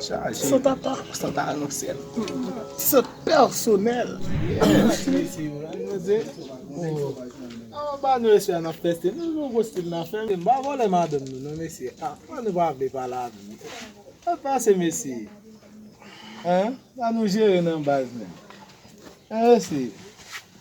Chaje San ta anousel Se pèsonèl